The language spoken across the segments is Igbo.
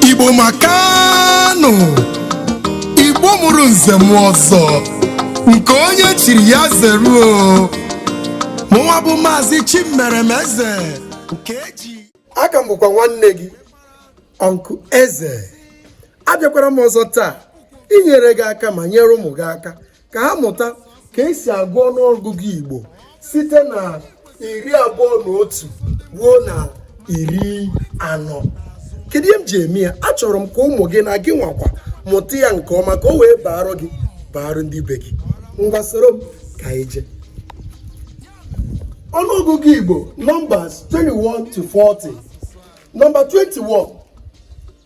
igbo makanụ igbo mụrụ nze mụọ ọzọ nke onye chiri ya zeruo mụnwa bụ maazị chimeremeze nke eji aka m bụkwa nwanne gị uncle eze abịakwara m ọzọ taa inyere gị aka ma nyere ụmụ gị aka ka ha mụta ka esi agụ ọnụọgụgụ Igbo site na iri abụọ na otu ruo na iri anọ kedu ihe m ji eme ya achọrọ m ka ụmụ gị na gị nwakwa mụta ya nke ọma ka o wee baara gị baara ndị be gị ngwa soro m ka anyị jee ọnụọgụgụ Igbo numbers 21 to 40 number 21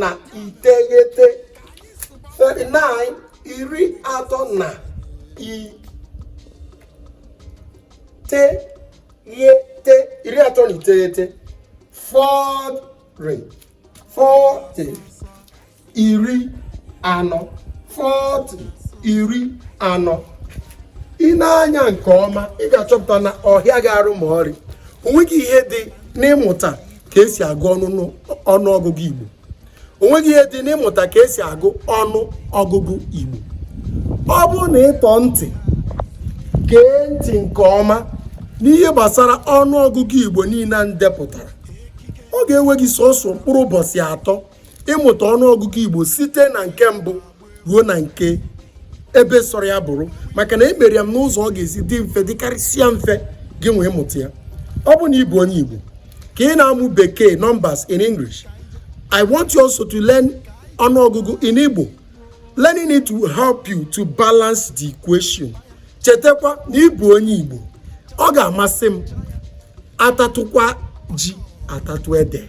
na iteghete 39 iri atọ na iteghete iri atọ na iteghete 40 40 iri anọ 40 iri anọ i nee anya nke ọma ị ga-achọpụta na ọhịa ga-arụ ma ọrị onweghị ihe dị n'ịmụta ka esi agụ ọnụ ọgụgụ Igbo o nweghị ihe dị n'ịmụta ka esi agụ ọnụ ọgụgụ Igbo ọ bụrụ na ị tọọ ntị gee ntị nke ọma n'ihe gbasara ọnụ ọgụgụ Igbo niile a m depụtara ọ ga-ewe gị sọsọ mkpụrụ ụbọchị atọ ịmụta ọnụ ọgụgụ Igbo site na nke mbụ ruo na nke ebe sọrọ ya bụrụ maka na emere ya m n'ụzọ ọ ga-esi dị mfe dịkarịsịa mfe gị nwa ịmụta ya ọ bụ na ị bụ onye Igbo ka ị na-amụ bekee numbers in English I want you also to learn ọnụọgụgụ in Igbo learning it will help you to balance the equation chetakwa na ị bụ onye Igbo ọ ga-amasị m atatụkwa ji atatụ ede